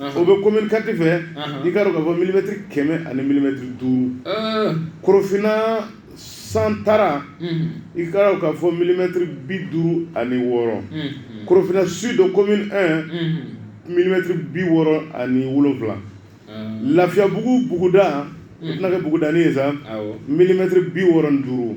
o bɛ commune quatre fɛ i k'a dɔn k'a fɔ milimɛtiri kɛmɛ ani milimɛtiri duuru korofinna santara i k'a dɔn k'a fɔ milimɛtiri bi duuru ani wɔɔrɔ korofinna sud commune un milimɛtiri bi wɔɔrɔ ani wolonwula lafiyabugu buguda o tɛna kɛ bugudanin ye sa milimɛtiri bi wɔɔrɔ ni duuru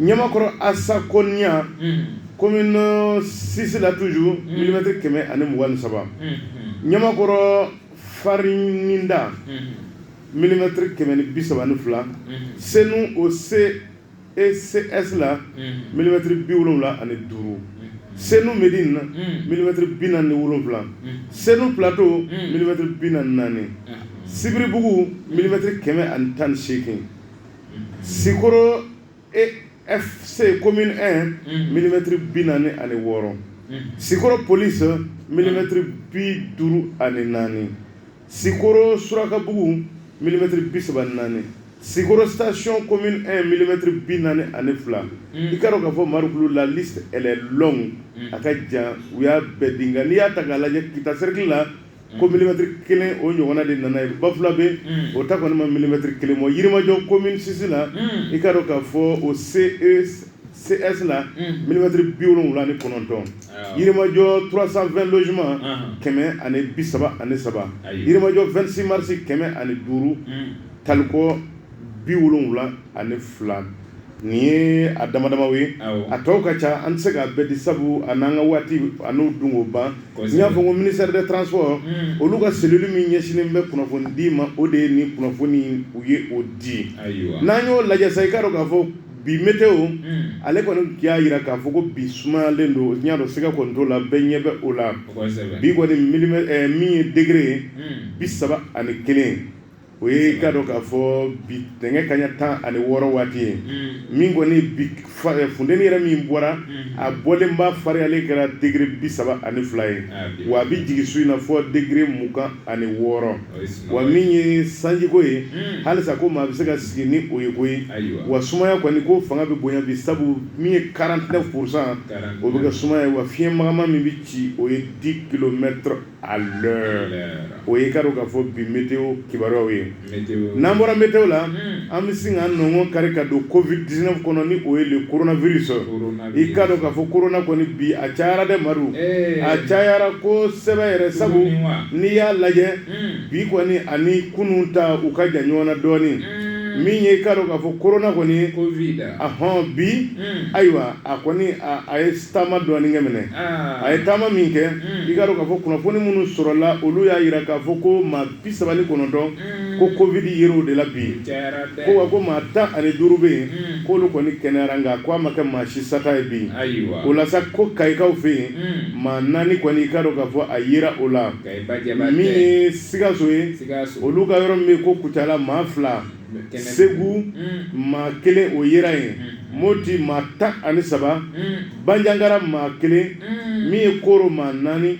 ɲamakɔrɔ asakoniya commune six la toujours milimɛtiri kɛmɛ ani mugan ni saba ɲamakɔrɔ farininda milimɛtiri kɛmɛ ni bi saba ni fila senu au CECS la milimɛtiri bi wolowula ani duuru senu médine milimɛtiri bi naani wolowula senu plateau milimɛtiri bi naani sibiribugu milimɛtiri kɛmɛ ani tan ni seegin sikoro FC commune un milimɛtiri bi naani ani wɔɔrɔ sikoro polisi milimɛtiri bi duuru ani naani sikoro surakabugu milimɛtiri bi saba naani sikoro station commune un milimɛtiri bi naani ani fila i k'a dɔn k'a fɔ marukulu la liste elle est longue a ka jan u y'a bɛɛ di nka n'i y'a ta k'a lajɛ kita cercle la ko milimɛtiri kelen o ɲɔgɔnna de nana yen bafulabɛ o ta kɔni ma milimɛtiri kelen bɔ yirimajɔ commune six la i k'a dɔn k'a fɔ au CCS la milimɛtiri bi wolonwula ni kɔnɔntɔn yirimajɔ trois cent vingt logements kɛmɛ ani bi saba ani saba yirimajɔ vingt-six mars kɛmɛ ani duuru taliko bi wolonwula ani fila nin ye a dama dama ye a tɔw ka ca an tɛ se k'a bɛɛ di sabu an n'an ka waati ani dun o ban n y'a fɔ ko ministère des transports olu ka cellule min ɲɛsinnen bɛ kunnafoni di ma o de ye nin kunnafoni u ye o di n'an y'o lajɛ sa i k'a dɔn k'a fɔ bi météo ale kɔni y'a jira k'a fɔ ko bi sumayalen don y'a dɔn siga kɔni t'o la bɛɛ ɲɛ bɛ o la bi kɔni min ye degre ye bi saba ani kelen o y'i k'a dɔn k'a fɔ bi tile nɛgɛ kanɲɛ tan ani wɔɔrɔ waati ye min kɔni bi funteni yɛrɛ min bɔra a bɔlen ba fariyalen kɛra degre bi saba ani fila ye wa a bɛ jigin su in na fo degre mugan ani wɔɔrɔ wa min ye sanjiko ye halisa ko maa bɛ se ka sigi ni o ye ko ye wa sumaya kɔni ko fanga bɛ bonya bi sabu min ye quarante-neuf pour cent o bɛ kɛ sumaya ye wa fiɲɛ magaman min bɛ ci o ye dix kilomètres a o y'i k'a dɔn k'a fɔ bi météo kibaruyaw ye n'an bɔra météo la an bɛ sin k'an nɔnkɔn kari ka don covid dix-neuf kɔnɔ ni o ye le coronavirus i k'a dɔn k'a fɔ korona kɔni bi a cayara dɛ amadu a cayara kosɛbɛ yɛrɛ sabu n'i y'a lajɛ bi kɔni ani kunun ta u ka jan ɲɔgɔn na dɔɔnin min ye i k'a dɔn k'a fɔ korona kɔni a hɔn bi ayiwa a kɔni a ye taama dɔɔnin kɛ minɛ a ye taama min kɛ i k'a dɔn k'a fɔ kunnafoni minnu sɔrɔla olu y'a jira k'a fɔ ko maa bi saba ni kɔnɔntɔn ko covid yera o de la bi ko wa ko maa tan ani duuru bɛ yen k'olu kɔni kɛnɛyara nka ko a ma kɛ maa si sata ye bi o la sa ko kayikaw fɛ yen maa naani kɔni i k'a dɔn k'a fɔ a yera o la min ye sikaso ye olu ka yɔrɔ min ko kucala maa fila segu maa kelen o yera yen moti maa tan ani saba banjagara maa kelen min ye koro maa naani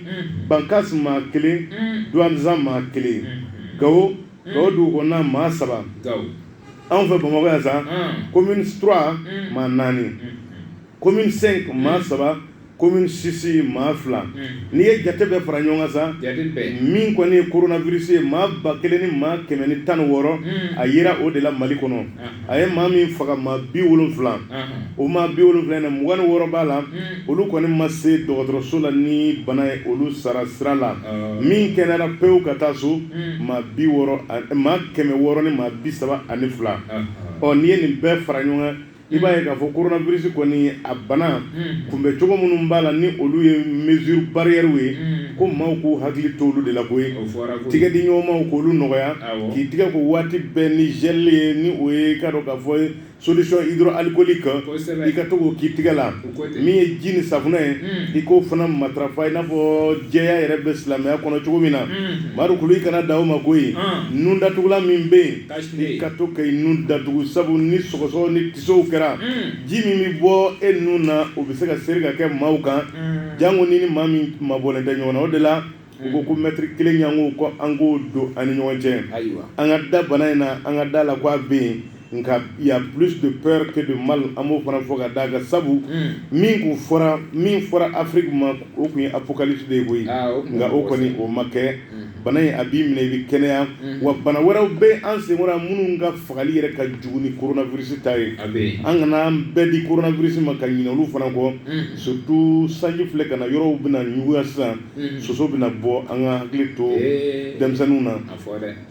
bankas maa kelen douentza maa kelen gawo gawo dugukɔnɔna maa saba anw fɛ bamakɔ yan sa commune trois maa naani commune cinq maa saba commune six maa fila hmm. n'i ye jate bɛɛ fara ɲɔgɔn kan sa min kɔni ye coronavirus ye maa ba kelen ni maa kɛmɛ ni tan ni wɔɔrɔ hmm. a yera o de la mali kɔnɔ a ye maa min faga maa bi wolonfila o maa bi wolonfila na mugan ni wɔɔrɔ b'a la hmm. olu kɔni ma se dɔgɔtɔrɔso la ni bana ye olu sara sira la oh. min kɛnɛyara pewu ka taa so maa bi wɔɔrɔ maa kɛmɛ wɔɔrɔ ni maa bi saba ani fila ɔ n'i ye nin bɛɛ fara ɲɔgɔn kan i b'a ye k'a fɔ koronabirisi kɔni a bana kunbɛn cogo minnu b'a la ni olu ye mesure barrièrew ye ko maaw k'u hakili to olu de la koyi tɛgɛ di ɲɔgɔnmaw k'olu nɔgɔya k'i tɛgɛ ko waati bɛɛ ni gel ye ni o ye k'a dɔn k'a fɔ solution hydroalcoolique i ka to k'o k'i tɛgɛ la min ye ji ni safunɛ ye i k'o fana matarafa i n'a fɔ jɛya yɛrɛ bɛ silamɛya kɔnɔ cogo min na madu kulu i kana dan o ma koyi nun datugulan min bɛ yen I ka to ka i nun datugu sabu ni sɔgɔsɔgɔ ni tisow kɛra ji min bɛ bɔ e nun na o bɛ se ka seri ka kɛ maaw kan janko ni ni maa min mabɔlen tɛ ɲɔgɔn na o de la u ko ko mètre kelen ɲɔgɔn ko an k'o don an ni ɲɔgɔn cɛ ayiwa an ka da bana in na an ka da la ko a bɛ yen nka y a plus de peur que de mal an b'o fana fɔ ka d'a kan sabu min tun fɔra min fɔra Afrique ma o tun ye apocalypse de ye koyi nka o kɔni o ma kɛ bana in a b'i minɛ i bɛ kɛnɛya mm-hmm. wa bana wɛrɛw bɛ an senkɔrɔ minnu ka fagali yɛrɛ ka jugu ni coronavirus ta ye an kana an bɛɛ di coronavirus ma ka ɲinɛ olu fana kɔ mm-hmm. surtout sanji filɛ ka na yɔrɔw bɛna ɲuguya sisan mm-hmm. soso bɛna bɔ an ka hakili to eh. denmisɛnninw na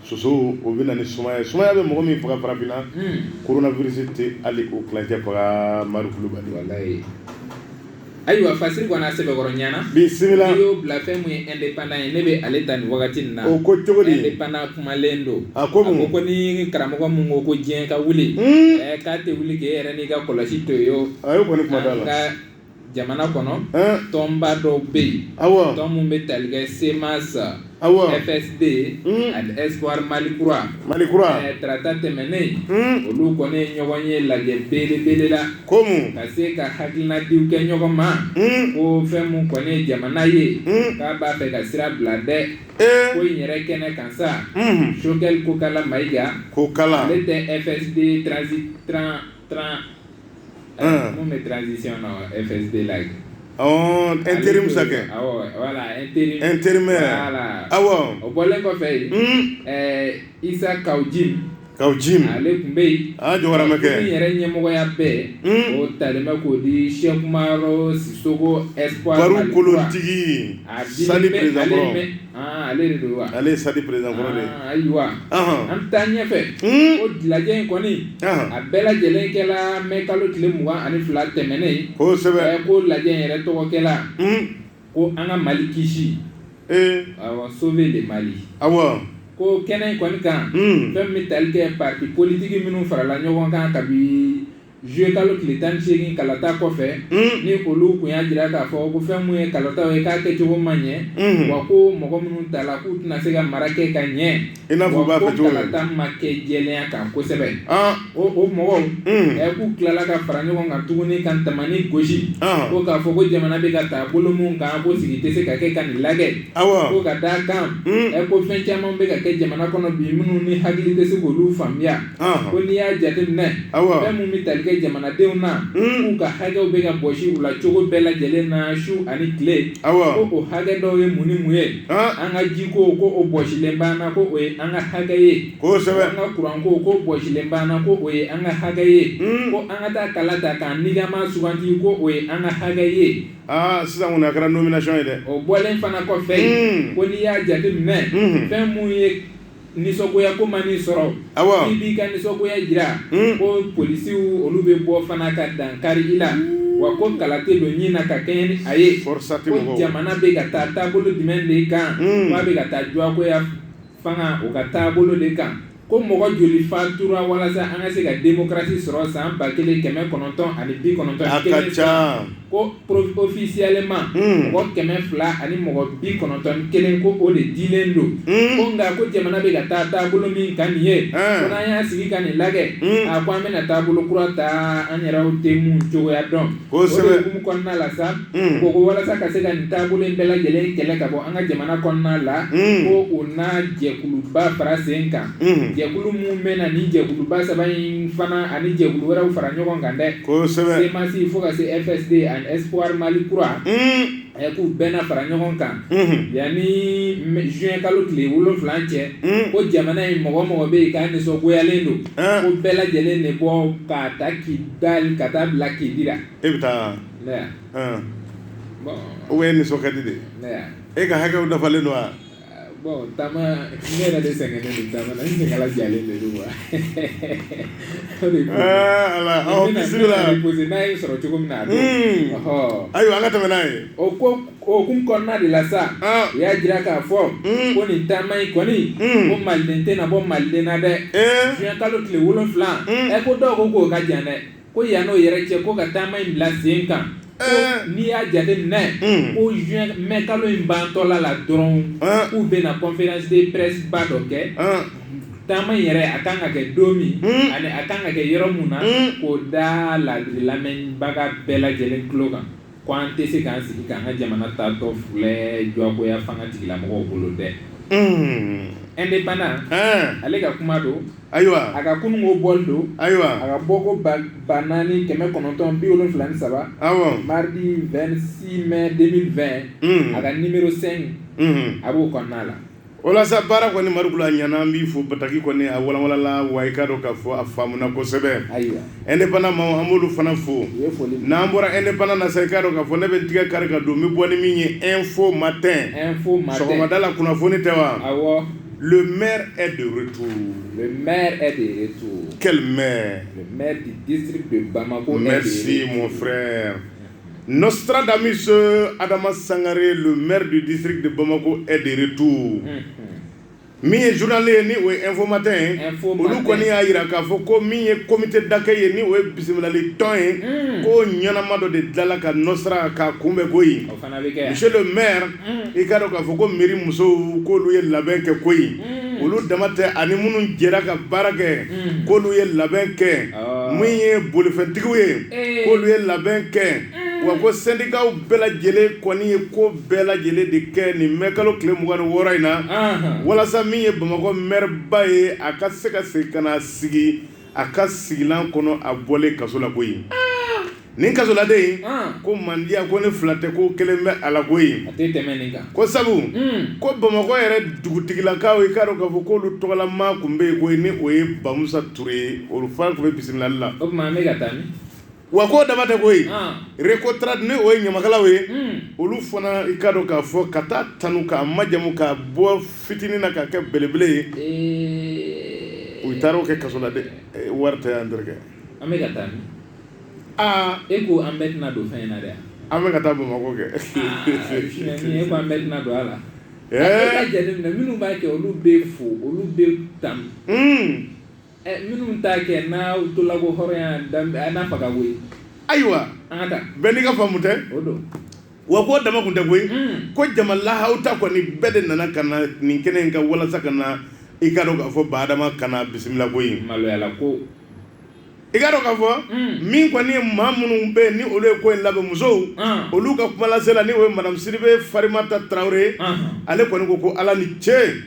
soso o bɛ na ni sumaya sumaya bɛ mɔgɔ min faga farafinna mm. coronavirus tɛ hali o tilancɛ faga Madu Kulubali. ayiwa fasiri kɔni a sɛbɛkɔrɔ ɲana bisimila n'i y'o bila fɛn mun ye indépendant ye ne bɛ ale ta nin wagati nin na o ko cogo di indépendant kumalen don a ko mun a ko ko ni karamɔgɔ mun ko ko diɲɛ ka wuli ɛɛ k'a tɛ wuli k'e yɛrɛ n'i ka kɔlɔsi to yen o a y'o kɔni kuma d'a la an ka jamana kɔnɔ tɔnba dɔw bɛ yen awɔ tɔn mun bɛ tali kɛ CMAS FSD ani espoir Mali kura Mali kura tarata tɛmɛnen olu kɔni ye ɲɔgɔn ye lajɛ belebele la ko mun ka se ka hakilinadiw kɛ ɲɔgɔn ma ko fɛn min kɔni ye jamana ye k'a b'a fɛ ka sira bila dɛ ko in yɛrɛ kɛnɛ kan sa Choguel Kokala Mayiga Kokala ale tɛ FSD transi Mun bɛ transition na FSD la yen intérim sa kɛ voilà intérim intérim awɔ o bɔlen kɔfɛ yen Isa Kawu Jim Kawu Jim ale tun bɛ yen jɔkɛ n yɛrɛ ɲɛmɔgɔya bɛɛ o talen bɛ k'o di Cheikh Umaru Sisoko espoir kolotigi a Aa ale de don wa ale ye sadi perezidan kɔrɔ de ye Aa, ayiwa Ɔhɔn. an bɛ taa ɲɛfɛ Hmm. o lajɛ in kɔni Ɔhɔn. a bɛɛ lajɛlen kɛla mɛ kalo tile mugan ani fila tɛmɛnen kosɛbɛ Ɛɛ, ko lajɛ in yɛrɛ tɔgɔ kɛla Hmm. ko an ka mali kisi ee awɔ sauver le Mali awɔ ko kɛnɛ in kɔni kan Hmm. fɛn min bɛ tali kɛ parti politiki minnu farala ɲɔgɔn kan kabi Zuye kalo tile tan segin kalata kɔfɛ ni olu tun y'a jira k'a fɔ ko fɛn min ye kalataw ye k'a kɛcogo ma ɲɛ wa ko mɔgɔ minnu tala k'u tɛna se ka mara kɛ ka ɲɛ wa ko kalata ma kɛ jɛlenya kan kosɛbɛ o o mɔgɔw ɛ k'u tilala ka fara ɲɔgɔn kan tuguni ka tamani gosi ko k'a fɔ ko jamana bɛ ka taa bolo min kan ko sigi tɛ se ka kɛ ka nin lajɛ ko ka d'a kan ɛ ko fɛn caman bɛ ka kɛ jamana kɔnɔ bi minnu ni hakili tɛ se k'olu faamuya ko n'i y'a jate minɛ fɛn minnu bɛ tali kɛ jamanadenw na k'u ka hakɛw bɛ ka bɔsi u la cogo bɛɛ lajɛlen na su ani tile ko o hakɛ dɔw ye mun ni mun ye an ka jiko ko o bɔsilen b'an na ko o ye an ka hakɛ ye kosɛbɛ an ka kuranko ko bɔsilen b'an na ko o ye an ka hakɛ ye ko an ka taa kala ta k'an nikanmaa sugandi ko o ye an ka hakɛ ye aa sisan a kɛra nomination ye dɛ o bɔlen fana kɔfɛ ko n'i y'a jate minɛ fɛn minnu ye nisɔngoya ko man'i sɔrɔ i b'i ka nisɔngoya jira hmm. ko polisiw olu bɛ bɔ fana ka dan kari i la wa ko kala tɛ don ɲin na ka kɛɲɛ ni a ye ko jamana bɛ ka taa taabolo jumɛn de kan hmm. a bɛ ka taa jagoya fanga o ka taabolo de kan ko mɔgɔ joli fatura walasa an ka se ka demokarasi sɔrɔ san ba kelen kɛmɛ kɔnɔntɔn ani bi kɔnɔntɔn ko officiellement hmm. mɔgɔ kɛmɛ fila ani mɔgɔ bi kɔnɔntɔn ni kelen ko o de dilen don hmm. ko nka ko jamana bɛ ka taa taabolo min kan nin ye hmm. ko n'an y'a sigi ka nin lajɛ a ko an bɛna taabolo kura ta an yɛrɛw tɛ mun cogoya dɔn o de hukumu kɔnɔna la sa ko ko walasa ka se ka nin taabolo in bɛɛ lajɛlen kɛlɛ ka bɔ an ka jamana kɔnɔna la ko o n'a jɛkuluba fara sen kan jɛkulu minnu bɛ na ni jɛkuluba saba in fana ani jɛkulu wɛrɛw fara ɲɔgɔn kan dɛ CMAS fo ka se FSD ani espoir mali kura k'u bɛna fara ɲɔgɔn kan yan ni zuwɛn kalo tile wolonfila cɛ ko jamana in mɔgɔ o mɔgɔ bɛ yen k'a nisɔngoyalen don ko bɛɛ lajɛlen de bɔ ka ta k'i da ka taa bila k'i jira e bɛ taa o ye nisɔnkadi de e ka hakɛ dafalen don wa Bon taama ne yɛrɛ de sɛgɛnnen taama na ni ala jalen de don wa n' n'a ye sɔrɔ cogo min na ɔ ayiwa an ka tɛmɛ n'a ye o ko hukumu kɔnɔna de la sa u y'a jira k'a fɔ ko nin taama in kɔni ko maliden tɛna bɔ maliden na dɛ zuwɛn kalo tile wolonfila ɛ ko dɔw ko k'o ka jan dɛ ko yan n'o yɛrɛ cɛ ko ka taama in bila sen kan n'i y'a jateminɛ ko zuwɛn mɛ kalo in bantɔla la dɔrɔn k'u bɛna conférence de presse ba dɔ kɛ taama in yɛrɛ a kan ka kɛ don min ani a kan ka kɛ yɔrɔ min na k'o da la lamɛnbaga bɛɛ lajɛlen tulo kan ko an tɛ se k'an sigi k'an ka jamana taatɔ filɛ jagoya fanga tigilamɔgɔw bolo dɛ indépendant ale ka kuma don ayiwa a ka kunun ko bɔli don ayiwa a ka bɔ ko ba naani kɛmɛ kɔnɔntɔn bi wolonfila ni saba mardi vingt-six mai deux mille vingt a ka numéro cinq a b'o kɔnɔna la walasa baara kɔni mari a ɲana an b'i fo bataki kɔni a wawalanla wa i ka dɔn ka fɔ a faamuna kosɛbɛ e ne banna ma amadu fana fo n'an bɔra e ne bana na sa i ka dɔn ka fɔ ne bɛ tigɛ kari ka don bɛ bɔ ni min ye e fɔ ma tɛ sɔgɔmada la kunnafoni tɛ wa m e de to de to kɛlɛ mɛ mɛ mɛ si mɔn fɛ Nostradamus adama sangare le maire du district de bamakɔ est de retour min ye journal ye ni o ye info matin ye olu kɔni y'a yira k'a fɔ ko min ye comité d'accueil ye ni o ye bisimilali tɔn ye ko ɲɛnama dɔ de dilanla ka nostra ka kunbɛn koyi monsieur le maire i k'a dɔn k'a fɔ ko mairie musow k'olu ye labɛn kɛ koyi olu dama tɛ ani minnu jɛra ka baara kɛ k'olu ye labɛn kɛ min ye bolifɛntigiw ye k'olu ye labɛn kɛ wa ko sendikaw bɛɛ lajɛlen kɔni ye ko bɛɛ lajɛlen de kɛ nin mɛ kalo tile mugan ni wɔɔrɔ in na walasa min ye bamakɔ maire ba ye a ka se ka segin ka na sigi a ka sigilan kɔnɔ a bɔlen kaso la koyi nin kasoladen in ko mandiya ko ne fila tɛ ko kelen bɛ a la koyi ko sabu ko bamakɔ yɛrɛ dugutigilakaw i k'a dɔn k'a fɔ k'olu tɔgɔla maa tun bɛ yen koyi ni o ye bamusa ture ye olu fana tun bɛ bisimilali la wa ko dama tɛ koyi Recotrade ni o ye ɲamakalaw ye olu fana i ka dɔn k'a fɔ ka taa tanu k'a majamu k'a bɔ fitinin na k'a kɛ belebele ye u taara o kɛ kaso la dɛ wari tɛ yan terikɛ an bɛ ka taa aa e ko an bɛɛ tɛna don fɛn in na dɛ an bɛ ka taa bamakɔ kɛ an bɛɛ tɛna don a la minnu b'a kɛ olu bɛ fo olu bɛ tanu Minnu t'a kɛ n'a tola ko hɔrɔnya n'a faga koyi ayiwa bɛɛ n'i ka faamu tɛ wa ko dama kun tɛ koyi ko jama lahaw ta kɔni bɛɛ de nana ka na nin kɛnɛ in ka walasa ka na i ka dɔn k'a fɔ ba adama ka na bisimila koyi maloyala ko i ka dɔn k'a fɔ min kɔni ye maa minnu bɛ ni olu ye ko in labɛn musow olu ka kumalasela ni o ye madamu sidibe farimata tarawele ye ale kɔni ko ko ala ni ce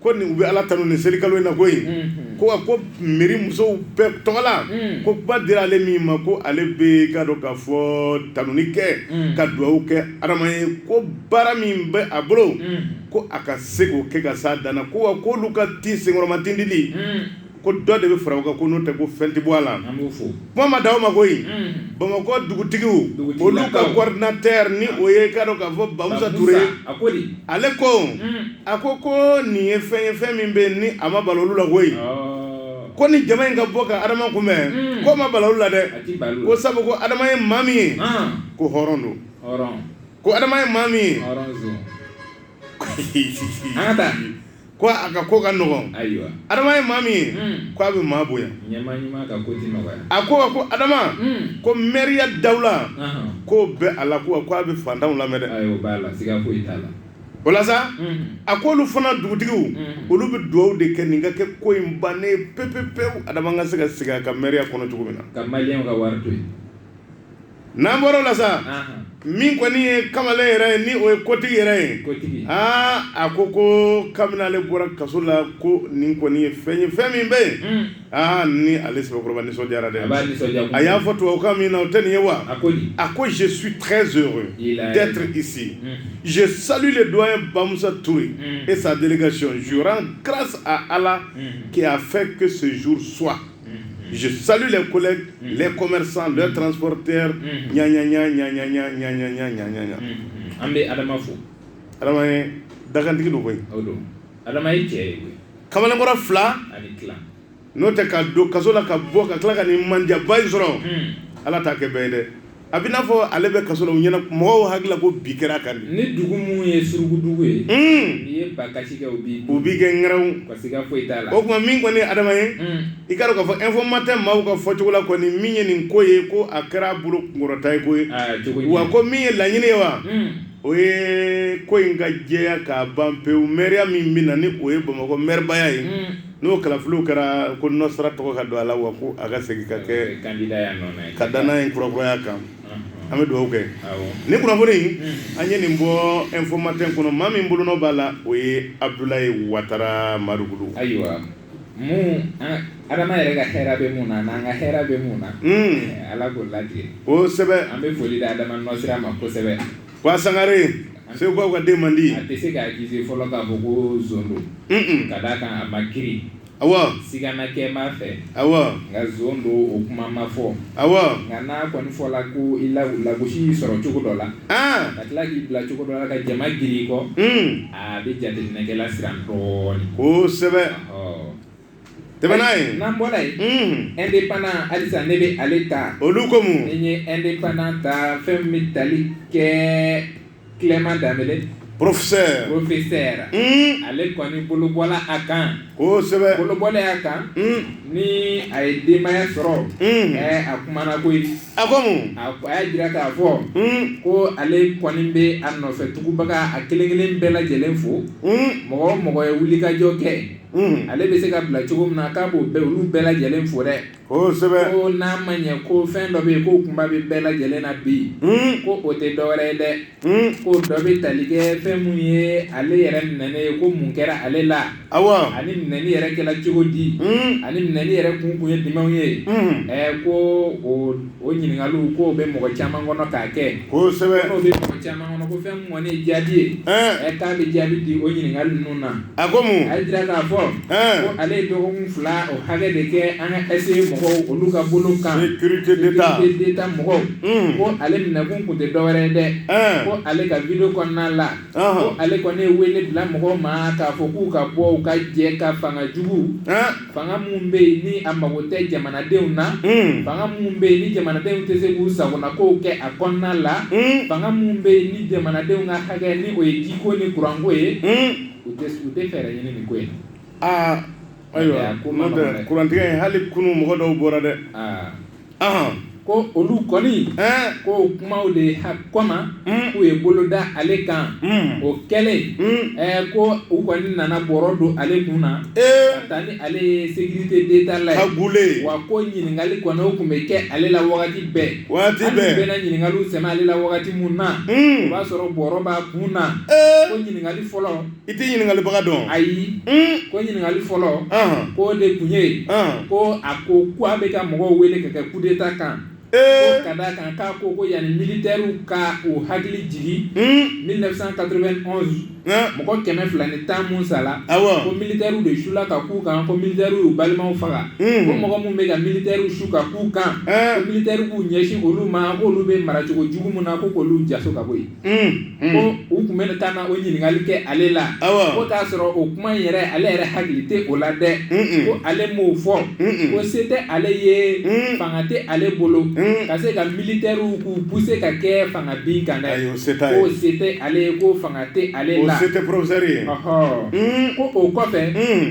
ko nin u bɛ ala tanu nin selikalo in na koyi ko wa ko mɛri musow bɛɛ tɔgɔ la ko kuma dira ale min ma ko ale bɛ ka dɔn k'a fɔ tanuni kɛ ka dugawu kɛ adama ye ko baara min bɛ a bolo ko a ka se k'o kɛ ka s'a dan na ko wa ko olu ka ti senkɔrɔma tindili ko dɔ de bɛ fara o kan ko n'o tɛ ko fɛn tɛ bɔ a la kuma ma di aw ma koyi bamakɔ dugutigiw olu ka coordinateur ni o ye ka dɔn k'a fɔ bamusa ture ye ale ko a ko ko nin ye fɛn ye fɛn min bɛ ni a ma bala olu la koyi ko ni jama in ka bɔ ka adama kunbɛn k'o ma bala olu la dɛ ko sabu ko adama ye maa min ye ko hɔrɔn don ko adama ye maa min ye an ka taa ko a ka ko ka nɔgɔn ayiwa adama ye maa min ye ko a bɛ maa bonya a ko ko adama ko mɛriya dawula ko bɛ a la ko ko a bɛ fantanw lamɛn dɛ o la sa a ko olu fana dugutigiw olu bɛ dugawu de kɛ nin ka kɛ ko in bannen pepepe adama ka se ka sigi a ka mɛriya kɔnɔ cogo min na n'an bɔra o la sa min kɔni ye kamalen yɛrɛ ye ni o ye kotigi yɛrɛ ye aa a ko ko kabini ale bɔra kaso la ko nin kɔni ye fɛn ye fɛn min bɛ yen aa ni ale sɛbɛkɔrɔba nisɔndiyara dɛ a y'a fɔ tubabukan min na o tɛ nin ye wa a ko je suis très heureux d'être ici je salue le doyen bamusa ture et sa délégation je rends grâce à allah qui a fait que ce jour soit je salue les collègues les commerçants les transporteurs ɲaɲaɲa ɲaɲaɲa ɲaɲaɲa ɲaɲaɲa an bɛ Adama fo Adama ye dakantigi don koyi o don Adama ye cɛ ye koyi kamalenkɔrɔ fila ani tila n'o tɛ ka don kaso la ka bɔ ka tila ka nin mandiyaba in sɔrɔ Ala t'a kɛ bɛɛ ye dɛ A bɛ n'a fɔ ale bɛ kaso la u ɲɛna mɔgɔw hakili la ko bi kɛra kan de ni dugu mun ye surukudugu ye n'i ye ba kasi u b'i kɛ ŋɛrɛw ka siga foyi t'a la o tuma min kɔni adama ye i k'a dɔn k'a fɔ Info-Matin maaw ka fɔcogo la kɔni min ye nin ko ye ko a kɛra bolo kunkɔrɔta ye koyi wa ko min ye laɲini ye wa o ye ko in ka jɛya ka ban pewu mɛriya min bɛ na ni o ye bamakɔ mɛribaya ye n'o kalafiliw kɛra ko nɔsira tɔgɔ ka don a la wa ko a ka segin ka kɛ ka dannaya kurakuraya kan an bɛ dugawu kɛ ni kunnafoni an ye nin bɔ Info-Matin kɔnɔ maa min bolonɔ b'a la o ye abdulayi watara mariku ayiwa adama yɛrɛ ka hɛrɛ bɛ mun na an ka hɛrɛ bɛ mun na ala k'o latigɛ o an bɛ foli di adama ma kosɛbɛ Ko a sangare segukaw ka denmandi a tɛ se ka accuser fɔlɔ k'a fɔ ko zon don un ka d'a kan a ma kiiri awɔ sigana kɛ b'a fɛ awɔ nka zon don o kuma ma fɔ awɔ nka n'a kɔni fɔla ko i lagosi y'i sɔrɔ cogo dɔ la aa ka tila k'i bila cogo dɔ la ka jama giri i kɔ a bɛ jateminɛkɛla siran dɔɔnin kosɛbɛ ɔ tɛmɛ n'a ye n'an bɔra yen unhun indépendant halisa ne bɛ ale ta olu ko mun nin ye indépendant ta fɛn min bɛ tali kɛ Clement Dembele professeur professeur un ale kɔni bolobɔla a kan kosɛbɛ bolobɔla a kan un ni a ye denbaya sɔrɔ un ɛɛ eh, a kumana koyi a ko mun a a y'a jira k'a fɔ un ko ale kɔni bɛ a nɔfɛ tugubaga a kelen kelen bɛɛ lajɛlen fo un mɔgɔ o mɔgɔ ye wulikajɔ kɛ ale bɛ se ka bila cogo min na k'a b'o bɛɛ olu bɛɛ lajɛlen fo dɛ ko n'a ma ɲɛ ko fɛn dɔ bɛ yen ko kunba bɛ bɛɛ lajɛlen na bi yen ko o tɛ dɔwɛrɛ ye dɛ ko dɔ bɛ tali kɛ fɛn mun ye ale yɛrɛ minɛnen ye ko mun kɛra ale la ani minɛni yɛrɛ kɛla cogo di ani minɛni yɛrɛ kun kun ye jumɛnw ye ɛ ko o O ɲininkali k'o bɛ mɔgɔ caman kɔnɔ k'a kɛ kosɛbɛ n'o bɛ mɔgɔ caman kɔnɔ ko fɛn mun kɔni ye jaabi ye k'a bɛ jaabi di o ɲininkali ninnu na a ko mun a y'a jira k'a fɔ ko ale ye dɔgɔkun fila o hakɛ de kɛ an ka SE mɔgɔw olu ka bolo kan sécurité d'état mɔgɔw ko ale minɛkun tun tɛ dɔwɛrɛ ye dɛ ko ale ka vidéo kɔnɔna la ko ale kɔni ye wele bila mɔgɔw ma k'a fɔ k'u ka bɔ u ka jɛ ka fanga jugu fanga mun bɛ yen ni a mago tɛ jamanadenw na hmm. fanga mun bɛ yen ni jamanadenw tɛ se k'u sagonakow kɛ a kɔnɔna la hmm. fanga mun bɛ yen ni jamanadenw ka hakɛ ni o ye jiko ni kuranko ye hmm. u tɛ u tɛ fɛɛrɛ ɲini nin ko in aa ayiwa kurantigɛ hali kunu mɔgɔ dɔw bɔra dɛ ko olu kɔni ko kumaw de ha kɔma k'u ye bolo da ale kan o kɛlen ko u kɔni nana bɔrɔ don ale kun na ka taa ni ale ye sécurité d'État la gole wa ko ɲininkali kɔni o tun bɛ kɛ ale la waati bɛɛ waati bɛɛ u bɛna ɲininkaliw sɛmɛ ale la wagati min na o b'a sɔrɔ bɔrɔ b'a kun na ko ɲininkali fɔlɔ I tɛ ɲininkalibaga dɔn ayi ko ɲininkali fɔlɔ ko de tun ye ko a ko ko a bɛ ka mɔgɔw wele ka kɛ coup d'État kan ko ka d'a kan k'a ko ko yanni militairew ka u hakili jigin mille neuf cent quatre-vingt-onze mɔgɔ kɛmɛ fila ni tan min sala ko militairew de sula ka k'u kan ko militairew y'u balimaw faga ko mɔgɔ minnu bɛ ka militairew su ka k'u kan ko militairew k'u ɲɛsin olu ma k'olu bɛ maracogo jugu min na ko k'olu jaso ka bɔ yen u tun bɛ ka na o ɲininkali kɛ ale la ko k'a sɔrɔ o kuma yɛrɛ ale yɛrɛ hakili tɛ o la dɛ ko ale m'o fɔ ko se tɛ ale ye fanga tɛ ale bolo ka se ka militairew k'u pousser ka kɛ fanga bin kan dɛ ko se tɛ ale ye ko fanga tɛ ale la se tɛ professeur ye ko o kɔfɛ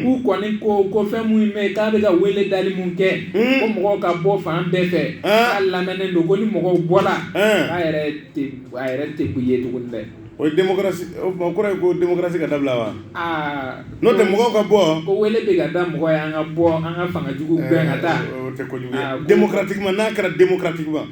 k'u kɔni ko ko fɛn minnu bɛ k'a bɛ ka wele dali min kɛ ko mɔgɔw ka bɔ fan bɛɛ fɛ k'a lamɛnnen don ko ni mɔgɔw bɔla k'a yɛrɛ a yɛrɛ tɛ ko ye tuguni dɛ o ye démocratie o tuma o kɔrɔ ye ko démocratie ka dabila wa aa n'o tɛ mɔgɔw ka bɔ ko wele bɛ ka da mɔgɔ ye an ka bɔ an ka fanga jugu gɛn ka taa o tɛ kojugu ye Aa, ko- démocratiquement n'a kɛra démocratiquement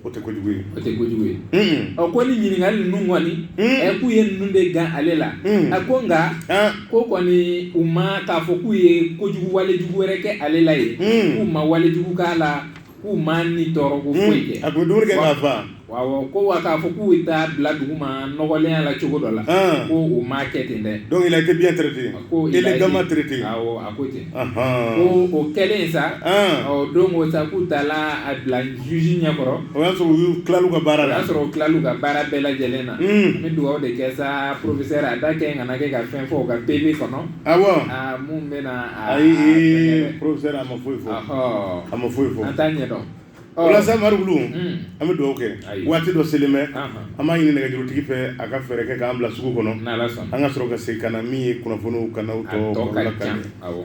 o tɛ kojugu ye o tɛ kojugu ye Unhun. ɔ ko ni ɲininkali ninnu kɔni Mm. ɛ k'u ye ninnu de gan ale la Mm. a ko nka Ah, ko kɔni u ma k'a fɔ k'u ye kojugu wale jugu wɛrɛ kɛ ale la ye Mm. k'u ma wale jugu k'a la k'u ma ni tɔɔrɔ ko hmm. foyi kɛ a tun bɛ dumuni kɛ k'a fa awɔ ko wa k'a fɔ k'u bɛ taa bila duguma nɔgɔlenya la cogo dɔ la hmm. ko o ma kɛ ten dɛ donc il a été bien traité ko il est vraiment traité awɔ a ko ten ko o kɛlen sa hmm. ɔ don o sa k'u taala a bila juge ɲɛkɔrɔ o y'a sɔrɔ u y'u tilal'u ka baara la o y'a sɔrɔ u tilal'u ka baara bɛɛ lajɛlen na n bɛ dugawu de kɛ sa professeur a da kɛ n kana kɛ ka fɛn fɔ u ka PV kɔnɔ awɔ aa mun bɛna Ayi professeur a ma foyi fɔ, ɔhɔ, a ma foyi fɔ, an t'a ɲɛdɔn, ɔ, o la sa Mari Kulu, un, an bɛ dugawu kɛ, ayi, waati dɔ selen bɛ, anhan, an b'a ɲini nɛgɛjurutigi fɛ a ka fɛɛrɛ kɛ k'an bila sugu kɔnɔ, n'Ala sɔnna, an ka sɔrɔ ka segin ka na min ye kunnafoniw kan aw a tɔ tɔ ka baro la ka ca, ɲɛ. awɔ.